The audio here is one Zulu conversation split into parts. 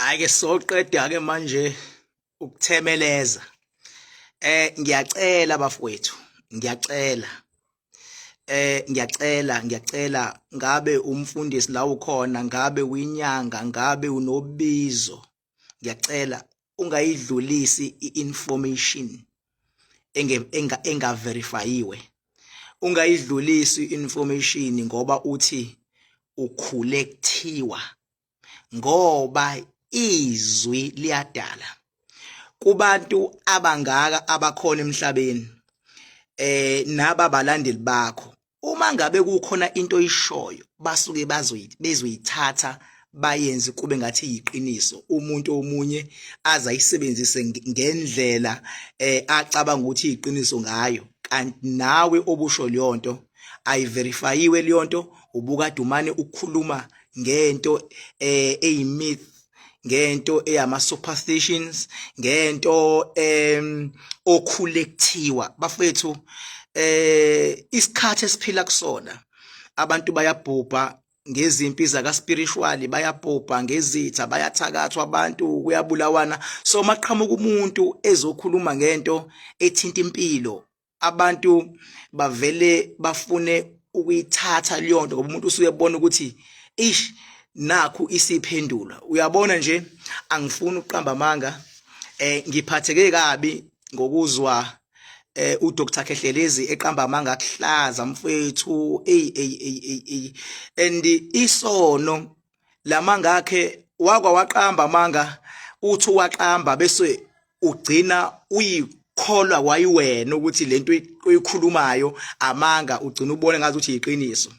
hayi ke soqeda ke manje ukuthemeleza eh ngiyacela bafowethu ngiyacela eh ngiyacela ngiyacela ngabe umfundisi la ukhona ngabe uyinyanga ngabe unobizo ngiyacela ungayidlulisi i-information engaverifayiwe ungayidlulisi i-information ngoba uthi ukhule kuthiwa ngoba izwi liyadala kubantu abangaka abakhona emhlabeni eh naba balandeli bakho uma ngabe kukhona into oyishoyo basuke bazoyithi bezoyithatha bayenze kube ngathi yiqiniso umuntu omunye azayisebenzise ngendlela eh acabanga ukuthi iqiniso ngayo kanti nawe obusho leyonto ayiverifayiwe leyonto ubukadumane ukukhuluma ngento eh eyimith ngento eyama superstitions ngento em okhule kuthiwa bafethu eh isikhathi esiphila kusona abantu bayabhubha ngezimpi zaka spiritual bayabhubha ngezitha bayathakathwa abantu kuyabulawana so maqhamuka umuntu ezokhuluma ngento ethinta impilo abantu bavele bafune ukuyithatha leyo nto ngoba umuntu usuke ebona ukuthi ish nakhu isiphendula uyabona nje angifuni ukuqamba amanga eh ngiphatheke kabi ngokuzwa eh uDr Khehlelezi eqamba amanga kuhlaza mfethu ey ey ey ey and isono lamanga akhe wakwa waqamba amanga uthi waqamba bese ugcina uyi kholwa wayiwena ukuthi lento oyikhulumayo amanga ugcina ubone ngathi ukuthi yiqiniso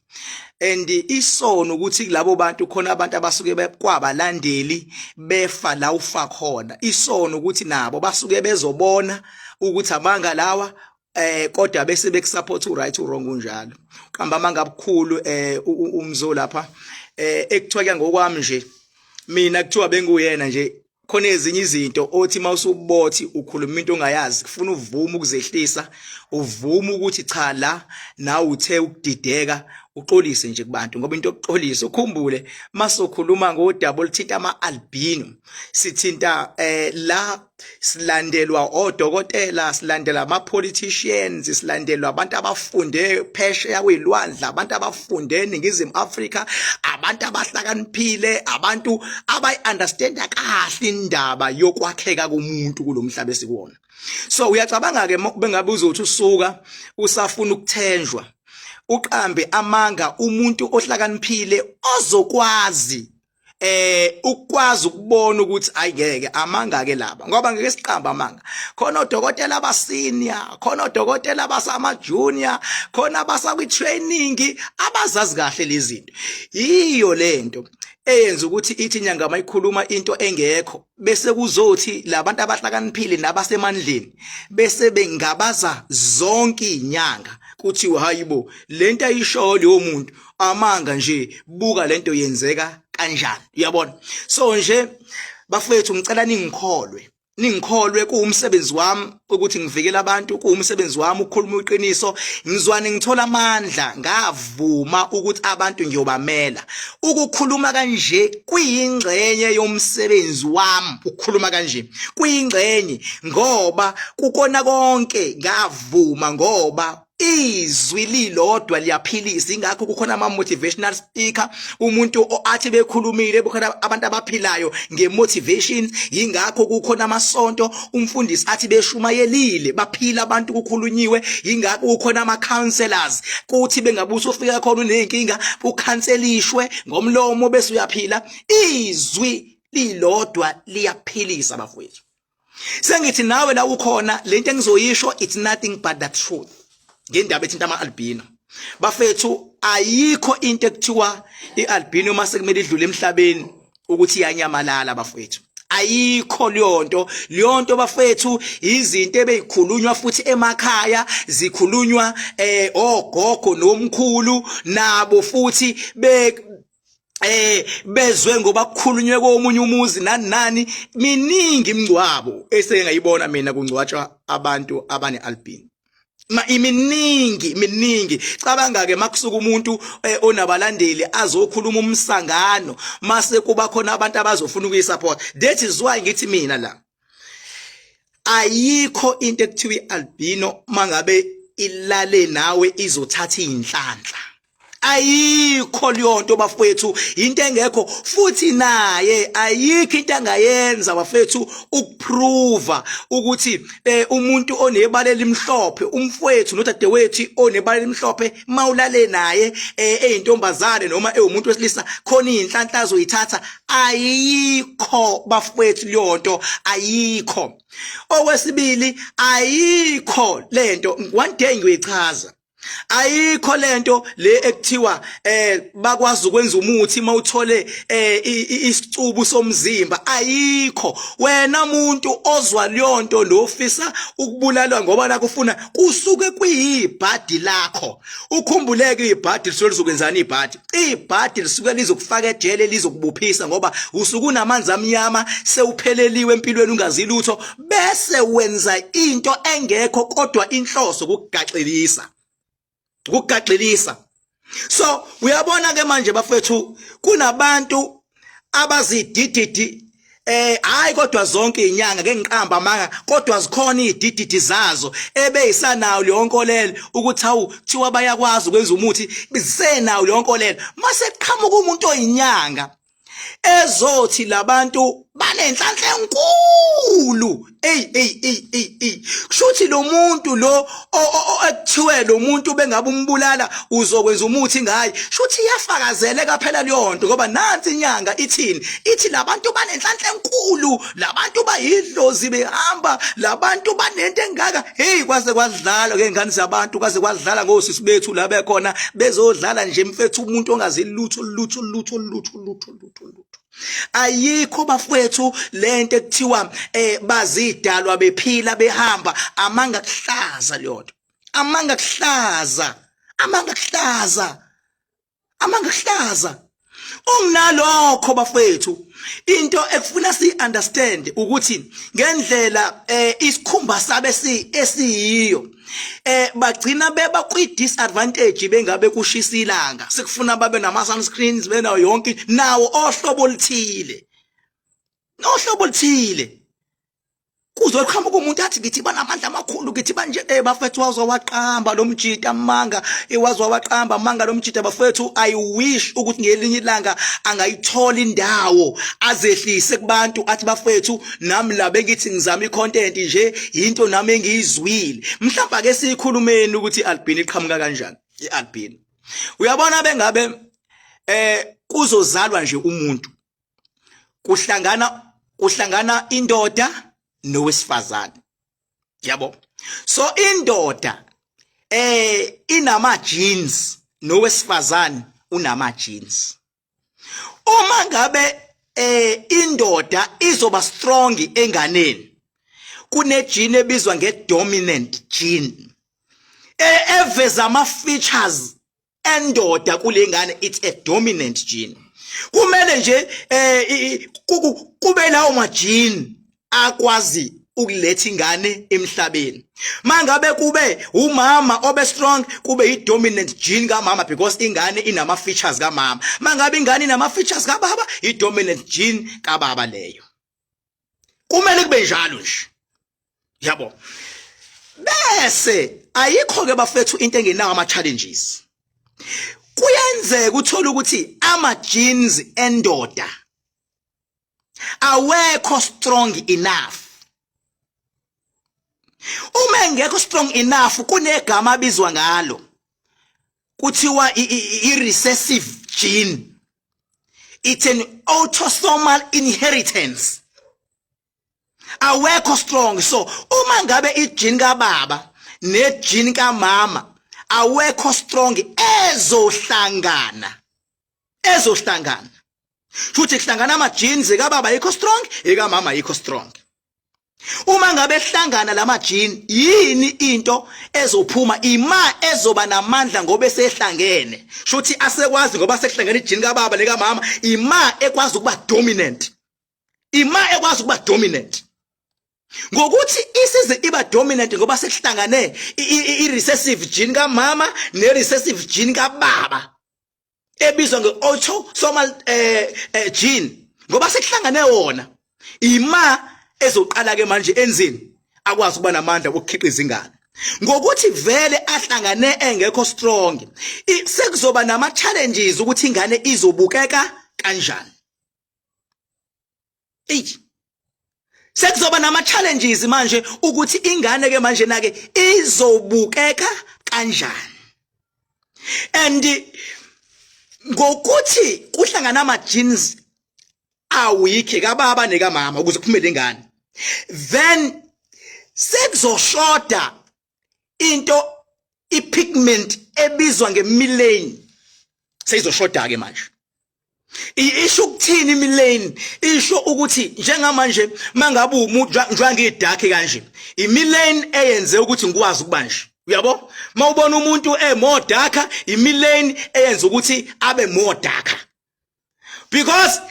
and isono ukuthi kulabo bantu khona abantu abasuke kwabalandeli befa la ufa khona isono ukuthi nabo basuke bezobona ukuthi amanga lawa eh kodwa bese bekusupport uright wrong unjalo qamba amanga abukhulu eh umzo lapha eh ekuthiwa ke ngokwami nje mina kuthiwa benguyena nje khona ezinye izinto othi mawusubothi ukhuluma into ongayazi kufuna uvume ukuzehlisa uvume ukuthi cha la nawe uthe ukudideka uxolise nje kubantu ngoba into yokuxolisa ukhumbule masokhuluma ngodaba oluthinta ama albino sithinta eh la silandelwa odokotela silandela ama politicians silandelwa abantu abafunde phesheya kuyilwandla abantu abafunde eningizimu Africa abantu abahlakaniphile abantu abayi understanda kahle indaba yokwakheka komuntu kulomhlaba esikuwona so uyacabanga ke bengabe uzothi usuka usafuna ukuthenjwa uqambe amanga umuntu ohlakaniphile ozokwazi eh ukwazi ukubona ukuthi ayike amanga ke laba ngoba ngeke siqamba amanga khona odokotela abasenior khona odokotela abasama junior khona abasakwi training abazazi kahle lezi zinto yiyo lento eyenza ukuthi ithi inyanga mayikhuluma into engekho bese kuzothi labantu abahlakaniphile nabasemandleni bese bengabaza zonke inyanga kuthiwa hayibo lento ayishoyo leyo muntu amanga nje buka lento yenzeka kanjani uyabona so nje bafethu ngicela ningikholwe ningikholwe kuwumsebenzi wami ukuthi ngivikele abantu kuwumsebenzi wami ukukhuluma iqiniso ngizwane ngithola amandla ngavuma ukuthi abantu ngiyobamela ukukhuluma kanje kuyingxenye yomsebenzi wami ukukhuluma kanje kuyingxenye ngoba kukona konke ngavuma ngoba izwi lilodwa liyaphilisa ingakho kukhona ama motivational speaker umuntu oathi bekhulumile bukhona abantu abaphilayo nge motivation ingakho kukhona amasonto umfundisi athi beshumayelile baphila abantu kukhulunyiwe ingakho kukhona ama counselors kuthi bengabuso ufika khona unenkinga ukhanselishwe ngomlomo bese uyaphila izwi lilodwa liyaphilisa bafowethu sengithi nawe la ukhona lento engizoyisho it's nothing but the truth ngendaba ethinta ama albino bafethu ayikho into ekuthiwa ialbino uma sekumele idlule emhlabeni ukuthi iyanyamalala bafethu ayikho leyonto leyonto bafethu izinto ebeyikhulunywa futhi emakhaya zikhulunywa eh ogogo nomkhulu nabo futhi eh bezwe ngoba kukhulunywe komunye umuzi nani nani miningi imingcwabo eseke ngayibona mina kungcwatshwa abantu abane albino ma iminingi miningi cabanga ke makusuka umuntu eh, onabalandeli azokhuluma umsangano mase kuba khona abantu abazofuna ukuyisupport that is why ngithi mina la ayikho into ekuthiwa ialbino mangabe ilale nawe izothatha inhlanhla ayikho leyonto bafowethu into engekho futhi naye ayikho into angayenza bafethu ukuprova ukuthi eh, umuntu onebala elimhlophe umfowethu nodadewethu onebala elimhlophe mawulale naye eh, eyintombazane noma ewumuntu wesilisa khona inhlanhla azoyithatha ayikho bafowethu leyonto ayikho okwesibili ayikho lento one day ngiyoyichaza ayikho lento le ekuthiwa eh bakwazi ukwenza umuthi mawuthole eh isicubu somzimba ayikho wena muntu ozwa leyonto nofisa ukubulalwa ngoba nakufuna kusuke kuyibhadi lakho ukhumbuleke ibhadi lisuke lizokwenzani ibhadi ibhadi lisuke lizokufaka ejele lizokubuphisa ngoba usuke unamanzi amnyama sewupheleliwe empilweni ungazi lutho bese wenza into engekho kodwa inhloso ukugaxelisa ukugaxelisa so uyabona ke manje bafethu kunabantu abazidididi Eh hayi kodwa zonke inyanga ke ngiqamba amanga kodwa zikhona izidididi zazo ebeyisanayo leyo nkolelo ukuthi awu thiwa bayakwazi ukwenza umuthi bisenayo leyo nkolelo mase qhamuka umuntu oyinyanga ezothi labantu banenhlanhla enkulu ey ey ey ey ey kushuthi lo muntu lo ekuthiwe lo muntu bengabe umbulala uzokwenza umuthi ngaye shuthi iyafakazeleka phela leyo nto ngoba nansi inyanga ithini ithi labantu banenhlanhla enkulu labantu bayidlozi behamba labantu banento engaka hey kwaze kwadlala ke ngani zabantu kwaze kwadlala ngosisi bethu la bekhona bezodlala nje mfethu umuntu ongazi lutho lutho lutho lutho lutho lutho lutho ayikho bafwethu lento ekuthiwa eh bazidalwa bephila behamba amanga kuhlaza leyonto amanga kuhlaza amanga kuhlaza amanga hlaza unginalokho bafethu into ekufuna si understand ukuthi ngendlela eh isikhumba sabe si esiyiyo eh bagcina beba kwi disadvantage bengabe kushisa ilanga sikufuna babe nama sunscreens benawo yonke nawo ohlobo lithile ohlobo lithile kuzoqhamuka umuntu athi ngithi banamandla amakhulu ngithi banje eh bafethu wazwa waqamba lo mjita manga iwazwa eh, waqamba manga lo mjita bafethu i wish ukuthi ngelinye ilanga angayithola indawo azehlise kubantu athi bafethu nami la bengithi ngizama icontent nje into nami engiyizwile mhlawumbe ake siyikhulumeni ukuthi albino iqhamuka kanjani ialbino uyabona bengabe eh kuzozalwa nje umuntu kuhlangana kuhlangana indoda nowesifazane yabo so indoda eh inama jeans nowesifazane unama jeans uma ngabe eh indoda izoba strong enganeni kunejini ebizwa ngedominant gene e, eveza ama features endoda kule ngane it's a dominant gene kumele nje eh kube lawo majini akwazi ukuletha ingane emhlabeni mangabe kube umama obe strong kube i dominant gene kamama because ingane inama features kamama mangabe ingane inama features kababa i dominant gene kababa leyo kumele kube njalo nje yabo bese ayikho ke bafethu into engenawo ama challenges kuyenzeka uthola ukuthi ama genes endoda awekho strong enough uma engekho strong enough kunegama abizwa ngalo kuthiwa i-recessive gene it's an autosomal inheritance awekho strong so uma ngabe ijini kababa nejini kamama awekho strong ezohlangana ezohlangana futhi kuhlangana ama genes ekababa yikho strong ekamama yikho strong uma ngabe hlangana lamajini yini into ezophuma ima ezoba namandla ngoba esehlangene shuthi asekwazi ngoba sekuhlangene ijini kababa leka mama ima ekwazi ukuba dominant ima ekwazi ukuba dominant ngokuthi isize iba dominant ngoba sekuhlangane i recessive gene kamama ne recessive gene kababa ebizwa nge-autosomal eh, eh gene ngoba sekuhlangane wona ima ezoqala ke manje enzini akwazi ukuba namandla okukhiqiza ingane ngokuthi vele ahlangane engekho strong sekuzoba nama challenges ukuthi ingane izobukeka kanjani eyi sekuzoba nama challenges manje ukuthi ingane ke manje nake izobukeka kanjani and ngokuthi kuhlangana ama genes awikhe kababa nekamama ukuze kuphumele ingane then sekuzoshoda into ipigment ebizwa ngemilane seyizoshoda ke manje isho ukuthini imilane isho ukuthi njengamanje mangabe umuntu njengangidakhe kanje imilane eyenze ukuthi ngikwazi ukuba nje uyabo mawubona umuntu emodakha imilane eyenza ukuthi abe modakha because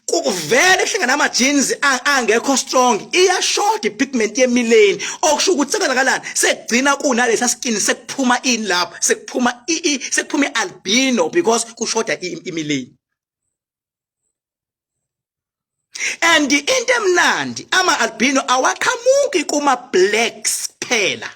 kuvele kuhlangana ama jeans angekho strong iyashoda ipigment yemileni okusho ukuthi sekwenzakalani sekugcina kunalesa skin sekuphuma in lapha sekuphuma i sekuphuma ialbino because kushoda imileni and into emnandi ama albino awaqhamuki kuma blacks phela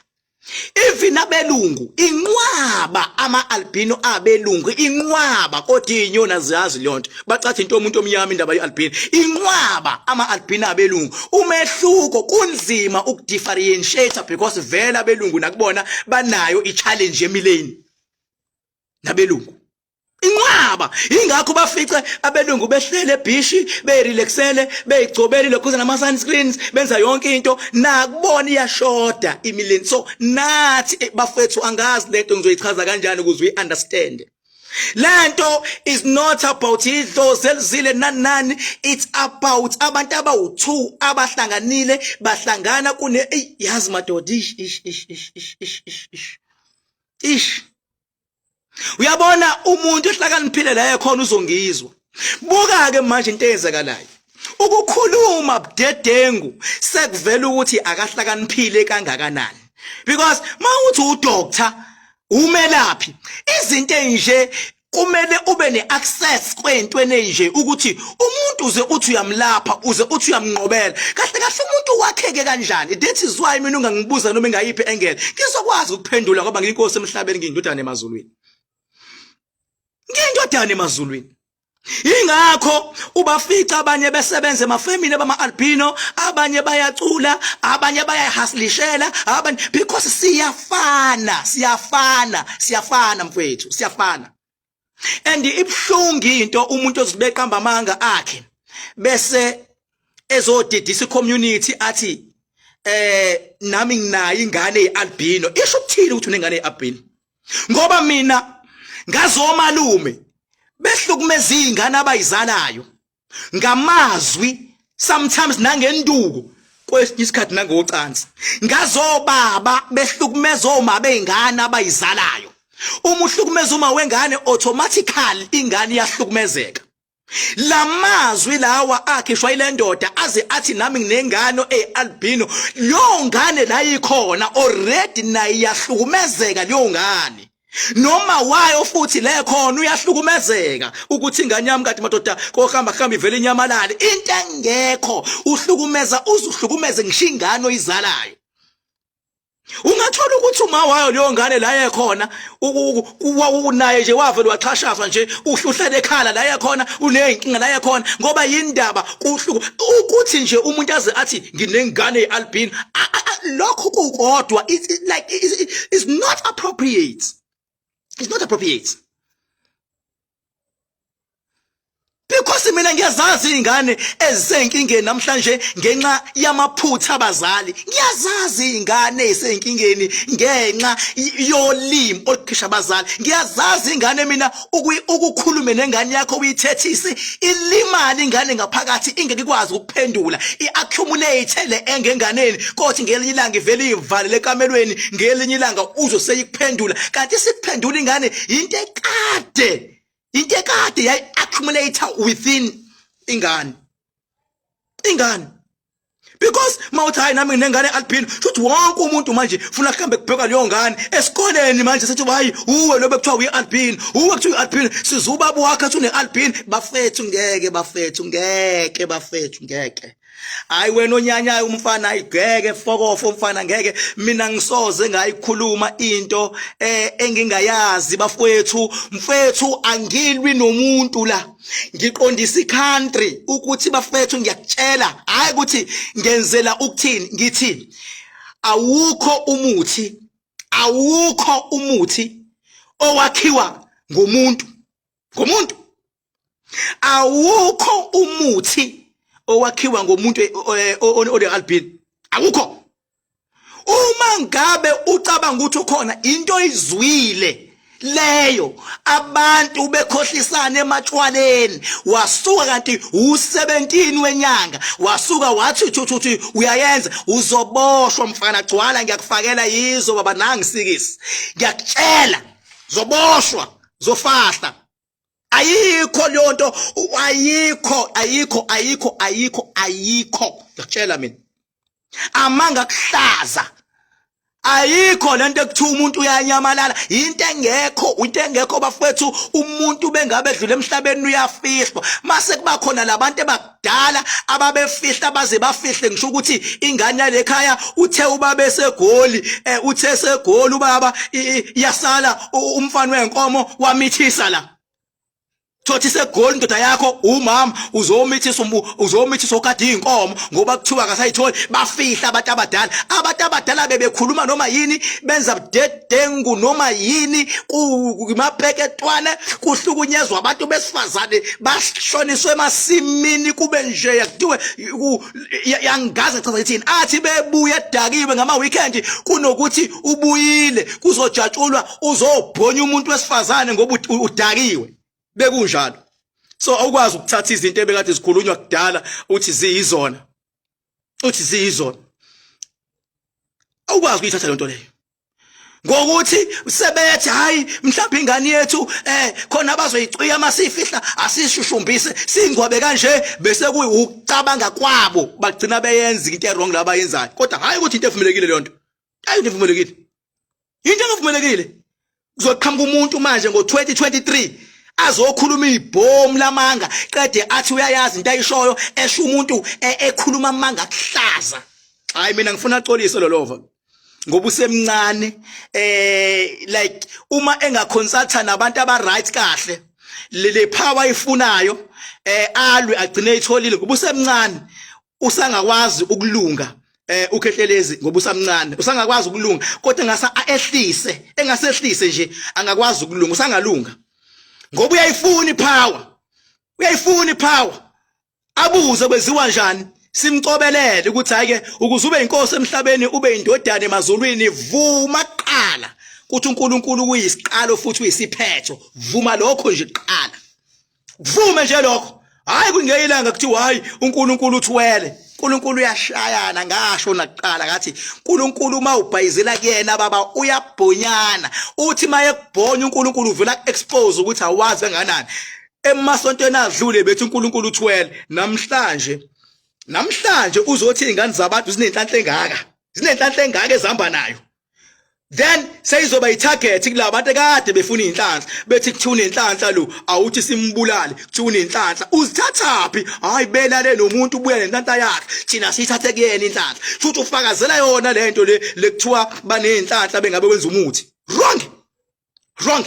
even abelungu inqwaba ama albino abelungu inqwaba kodwa inyona ziyazi leyonto bacathi into omuntu omnyama indaba yealbino inqwaba ama albino abelungu umehluko kunzima ukudifferentiate because vela abelungu nakubona banayo ichallenge emileni nabelungu inqwaba ingakho bafice abelungu behlele ebhishi beyirelaxele beyigcobele lokhuza nama sunscreens benza yonke into nakubona iyashoda imileni so nathi eh, bafethu angazi lento ngizoyichaza kanjani ukuze uyi-understand lento is not about idlozi elizile nanani it's about abantu abawu-two abahlanganile bahlangana kune eyi yazi madoda ish ish ish ish ish ish ish ish uyabona umuntu ehlakaniphile la ekhona uzongizwa buka ke manje into eyenzakalayo ukukhuluma budedengu sekuvela ukuthi akahlakaniphile kangakanani because mawuthi udoctor umelaphi izinto enje kumele ube neaccess kwentweni enje ukuthi umuntu uze uthi uyamlapha uze uthi uyamnqobela kahle kahle umuntu wakheke kanjani that is why mina ungangibuza noma engayiphi engele ngizokwazi ukuphendula ngoba ngiyinkosi emhlabeni ngiyindodana emazulwini ngiyindodana emazulwini Ingakho ubafica abanye besebenza emafemini bama albino, abanye bayacula, abanye bayahasilishela, abanye because siyafana, siyafana, siyafana mfethu, siyafana. and ibhlungu into umuntu ozibeqamba amanga akhe bese ezodidisa community athi eh nami nginayo ingane yealbino isho ukuthini ukuthi unengane yealbino ngoba mina ngazomalume behlukumeza izingane abayizalayo ngamazwi sometimes nangenduku kwesinye isikhathi nangocansi ngazobaba behlukumeza oma beingane abayizalayo uma uhlukumeza uma wengane automatically ingane iyahlukumezeka lamazwi lawa akhishwa ile ndoda aze athi nami nginengane ealbino leyo ngane la ikhona already naye yahlukumezeka leyo ngane noma wayo futhi le khona uyahlukumezeka ukuthi ingane yami kade madoda kohamba hamba ivele inyamalale into engekho uhlukumeza uzuhlukumeze ngisho ingane oyizalayo ungathola ukuthi uma wayo leyo ngane la yekhona unaye nje wavele waxhashazwa nje uhluhlele ekhala la yekhona unezinkinga la yekhona ngoba yindaba kuhluko ukuthi nje umuntu aze athi nginengane yealbin lokho kukodwa it's like it's not appropriate it's not appropriate because mina ngiyazazi izingane ezisenkingeni namhlanje ngenxa yamaphutha abazali ngiyazazi izingane ezisenkingeni ngenxa yolimi olukhisha abazali ngiyazazi izingane mina ukukhulume nengane yakho uyithethise ilimali ingane ngaphakathi ingeke ikwazi ukuphendula iaccumulate le enge enganeni kothi ngelinye ilanga ivele ivalele ekamelweni ngelinye ilanga uzo seyikuphendula kanti sikuphendula ingane into ekade into ekade yayiaccumulate within ingane ingane because mawuthi hayi nami nginengane alphile shuthi wonke umuntu manje funa kuhambe kubheka leyo ngane esikoleni manje sethi hayi uwe lobe kuthiwa uyi-alpine uwe kuthiwa uyi-alpine siza ubaba wakhe athi une-alpine bafethu ngeke bafethu ngeke bafethu ngeke hayi wena onyanyayo umfana ayigeke fokofo umfana ngeke mina ngisoze ngayikhuluma into eh engingayazi bafowethu mfethu angilwi nomuntu la ngiqondisa icountry ukuthi bafethu ngiyakutshela hayi ukuthi ngenzela ukuthini ngithi awukho umuthi awukho umuthi owakhiwa ngomuntu ngomuntu awukho umuthi owakhiwa ngomuntu eh, eh, onegalbin awukho uma ngabe ucabanga ukuthi ukhona into oyizwile leyo abantu bekhohlisana ematshwaleni wasuka kanti u17 wenyanga wasuka wathi thuthuthi uyayenza uzoboshwa mfana gcwala ngiyakufakela yizo baba nangisikisi ngiyakutshela zoboshwa zofahla ayikho leyo nto ayikho ayikho ayikho ayikho ayikho ngiyakutshela mina amanga kuhlaza ayikho lento ekuthiwa umuntu uyanyamalala into engekho into engekho bafethu umuntu bengabe edlule emhlabeni uyafihlwa mase kuba khona labantu abadala ababefihla baze bafihle ngisho ukuthi ingane yalekhaya uthe ubaba esegoli eh, uthe esegoli ubaba yasala umfana wenkomo wamithisa la thothi segoli indoda yakho umama uzomithisa uzomithisa okade inkomo ngoba kuthiwa akasayitholi bafihla abantu abadala abantu abadala bebekhuluma noma yini benza ubudedengu noma yini kumapeketwane kuhlukunyezwa abantu besifazane bashoniswe emasimini kube nje yakuthiwe yangaze chaza ithini athi bebuye edakiwe ngama weekend kunokuthi ubuyile kuzojatshulwa uzobhonya umuntu wesifazane ngoba udakiwe bekunjalo so awukwazi ukuthatha izinto ebekade zikhulunywa kudala uthi ziyizona uthi ziyizona awukwazi ukuyithatha lento leyo ngokuthi sebethi hayi mhlawumbe ingane yethu eh khona abazoyicwiya masifihla asishushumbise singwabe kanje bese kuyucabanga kwabo bagcina beyenza into erong laba yenzayo kodwa hayi ukuthi into evumelekile leyo nto ayi into evumelekile yinto engavumelekile kuzoqhamuka umuntu manje ngo-2023 azokhuluma ibhomu lamanga qede athi uyayazi into ayishoyo esho umuntu e, ekhuluma amanga kuhlaza hayi mina ngifuna axolise lolova ngoba usemncane eh like uma engaconsulta nabantu aba right kahle le power ifunayo eh alwe agcine itholile ngoba usemncane usangakwazi ukulunga eh ukhehlelezi ngoba usamncane usangakwazi ukulunga kodwa ngasa ehlise engasehlise nje angakwazi ukulunga usangalunga ngoba uyayifuna ipower uyayifuna ipower abuze kweziwa njani simcobelele ukuthi hayi ke ukuze ube inkosi emhlabeni ube indodana emazulwini vuma qala ukuthi uNkulunkulu kuyisiqalo futhi uyisiphetho vuma lokho nje qala kuvume nje lokho hayi kungeyilanga kuthi hayi uNkulunkulu uthwele uNkulunkulu uyashayana ngasho nakuqala ngathi uNkulunkulu uma ubhayizela kuyena baba uyabhonyana uthi maye kubhonya uNkulunkulu uvela expose ukuthi awazi kanganani emasontweni adlule bethi uNkulunkulu uthwele namhlanje namhlanje uzothi izingane zabantu zinenhlanhla engaka zinenhlanhla engaka ezihamba nayo then seyizoba itarget kulabo bantu kade befuna inhlanhla bethi kuthuna inhlanhla lo awuthi simbulale kuthuna inhlanhla uzithathaphi hayi belale nomuntu ubuya nenhlanhla yakhe thina sithathe kuyena inhlanhla futhi ufakazela yona lento le lekuthiwa banenhlanhla bengabe wenza umuthi wrong wrong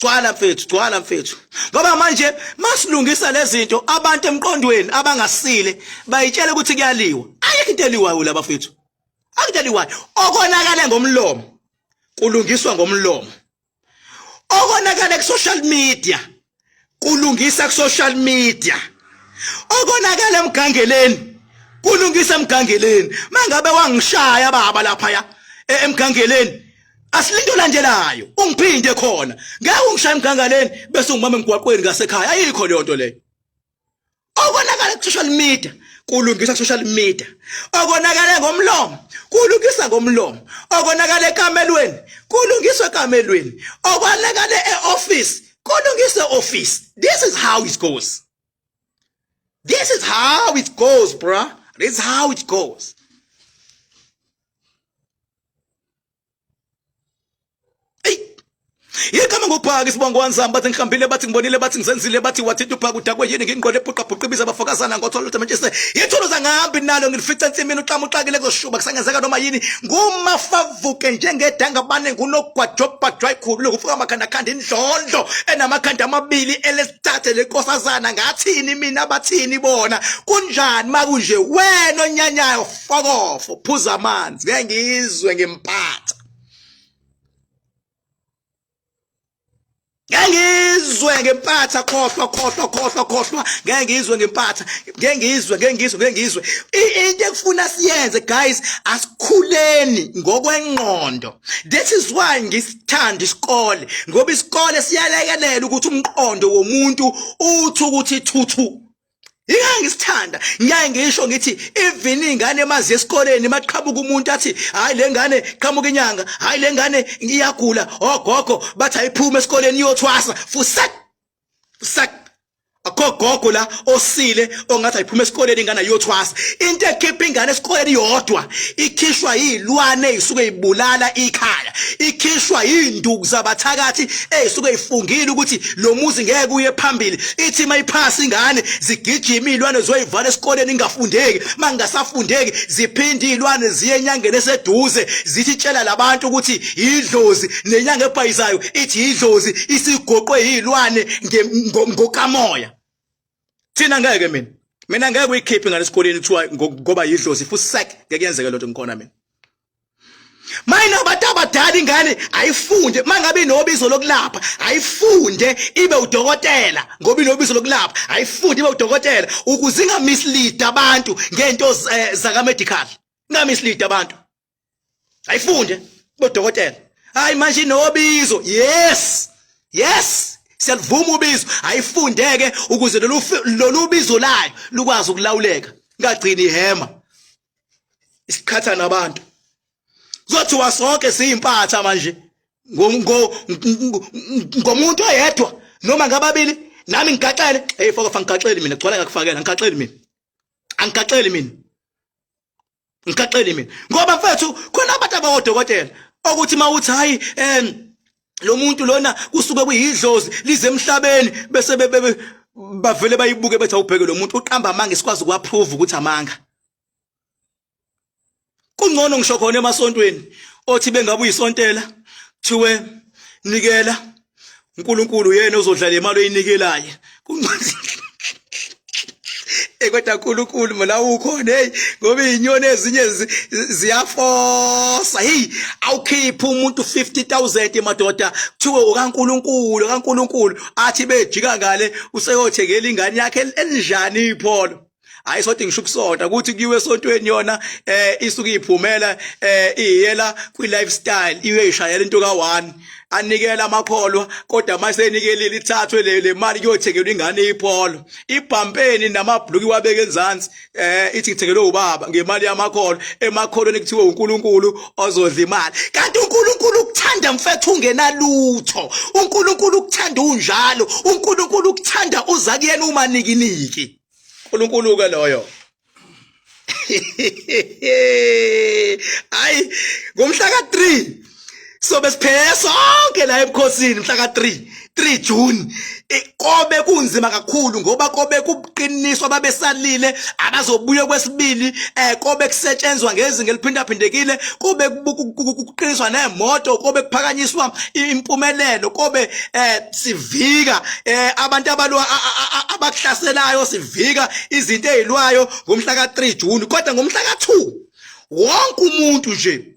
gcwala mfethu gcwala mfethu ngoba manje masilungisa lezinto abantu emqondweni abangasile bayitshela ukuthi kuyaliwa ayikho into eliwayo laba mfethu akudeliwayo okonakale ngomlomo kulungiswa ngomlomo okonakala ku social media kulungisa ku social media okonakala emgangeleni kulungisa emgangeleni mangabe wangishaya baba lapha ya e, emgangeleni asilinde olandelayo ungiphinde khona ngeke ungishaya emgangaleni bese ungimama emgwaqweni ngasekhaya ayikho leyo nto leyo okonakala ku-social media kulungisa ku-social media okonakale ngomlomo kulungisa ngomlomo okonakale ekamelweni kulungiswa ekamelweni okonakale e-office kulungisa e-office this is how it goes this is how it goes bruh this is how it goes Igama ngophaka isibongo wanzama bathi ngihambile bathi ngibonile bathi ngizenzile bathi wathinta uphaka udakwe yini ngingqole epuqa bhuqa ibiza abafokazana ngothola lutho manje yithulu zangihambi nalo ngilifica ensimini uxama uxakile kuzoshuba kusangenzeka noma yini ngumafavuke njengedanga bane ngunogwajobhajwa ikhulu lokufuka amakhanda khanda indlondlo enamakhanda amabili elesithathe lenkosazana ngathini mina bathini bona kunjani makunje wena onyanyayo fokofo phuza amanzi ngeke ngizwe ngimphatha ngeke ngizwe ngempatha khohlwa khohlwa khohlwa khohlwa ngeke ngizwe ngempatha ngeke ngizwe ngeke ngizwe ngeke ngizwe into ekufuna siyenze guys asikhuleni ngokwengqondo that is why ngisithanda isikole ngoba isikole siyalekelela ukuthi umqondo womuntu uthi ukuthi thuthu Yingani ngisithanda ngiyaye ngisho ngithi even ingane emazi esikoleni maqhabuka umuntu athi hayi lengane qhamuka inyanga hayi lengane iyagula ogogo oh, bathi ayiphuma esikoleni iyothwasa fusak fusak akho gogo la osile ongathi ayiphuma esikoleni ingane ayothwasa into ekhipha ingane esikoleni yodwa ikhishwa yilwane isuke ibulala ikhaya ikhishwa induku zabathakathi ezisuke ifungile ukuthi lo muzi ngeke uye phambili ithi mayiphasa ingane zigijima ilwane zoyivala esikoleni ingafundeki mangasafundeki ziphinde ilwane ziye enyangeni eseduze zithi tshela labantu ukuthi idlozi nenyanga ebhayizayo ithi idlozi isigoqwe yilwane ngokamoya thina ngeke mina mina ngeke uyikhiphe ngale sikoleni kuthiwa ngoba yidlozi futhi sek ngeke yenzeke lento ngikhona mina mayina abantu abadala ingane ayifunde mangabe inobizo lokulapha ayifunde ibe udokotela ngoba inobizo lokulapha ayifunde ibe udokotela ukuze ingamislead abantu ngento eh, zaka medical ingamislead abantu ayifunde ibe udokotela hayi manje inobizo yes yes siyalivuma ubizo ayifundeke ukuze lolu bizo layo lukwazi ukulawuleka ngagcini ihema isiqhatha nabantu kuzothiwa sonke siyimpatha manje ngomuntu oyedwa noma ngababili nami ngigaxele hey foko fangigaxeli mina gcwala ngakufakela ngigaxeli mina angigaxeli mina ngigaxeli mina ngoba mfethu khona abantu abawodokotela okuthi mawuthi hayi em lo muntu lona kusuke kuyidlozi lize emhlabeni bese bavele bayibuke bethi awubheke lo muntu uqamba amanga isikwazi ukuapprove ukuthi amanga kungcono ngisho khona emasontweni othi bengabe uyisontela kuthiwe nikela uNkulunkulu yena ozodlala imali oyinikelayo Eh kodwa uNkulunkulu mina ukhona hey ngoba izinyoni ezinye ziyafosa hey awukhipha umuntu 50000 madoda kuthiwe ukaNkulunkulu kaNkulunkulu athi bejika ngale useyothengela ingane yakhe elinjani ipholo hayi sothi ngisho ukusonta ukuthi kuyiwe esontweni yona eh isuke iphumela eh iyela kwi lifestyle iwe ishayela into ka 1 anikela amakholwa kodwa mase enikelile ithathwe le le mali kuyothengelwa ingane ipholo ibhampeni namabhluki wabeke enzansi eh ithi ngithengelwe ubaba ngemali yamakholwa emakholweni kuthiwe uNkulunkulu ozodla imali kanti uNkulunkulu ukuthanda mfethu ungenalutho uNkulunkulu ukuthanda unjalo uNkulunkulu ukuthanda uza kuyena uma nikiniki uNkulunkulu ke loyo hayi ngomhla ka 3 sobe siphele sonke la ebukhosini mhla ka 3 3 June kobe kunzima kakhulu ngoba kobe kuqiniswa babesalile abazobuya kwesibili eh kobe kusetshenzwa ngezinga eliphindaphindekile kobe kuqiniswa nemoto kobe kuphakanyiswa impumelelo kobe eh sivika eh abantu abalwa abakuhlaselayo sivika izinto ezilwayo ngomhla ka3 June kodwa ngomhla ka2 wonke umuntu nje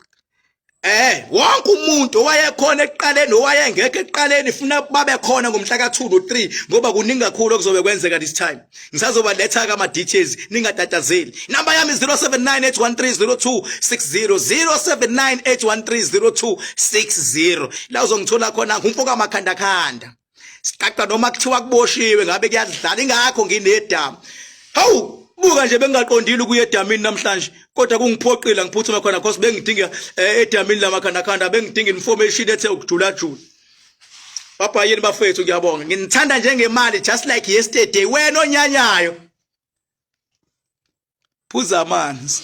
Eh wonke umuntu owayekhona ekuqaleni owayengekho ekuqaleni funa babe khona ngomhla ka2 no3 ngoba kuningi kakhulu okuzobe kwenzeka this time ngisazobaletha-ke ama-details ningatatazeli inamba yami 079 813 0260 079 813 0260 la uzongithola khona ngumfoka makhandakhanda siqaqa noma kuthiwa kuboshiwe ngabe kuyadlala ingakho nginedamu hawu buka nje bengingaqondile ukuya edamini namhlanje kodwa kungiphoqile ngiphuthume khona cause bengidinga eh, edamini lamakhandakhanda bengidinga information ethe ukujulajula Papa yini bafethu ngiyabonga. Nginithanda njengemali just like yesterday. Wena onyanyayo. Phuza amanzi.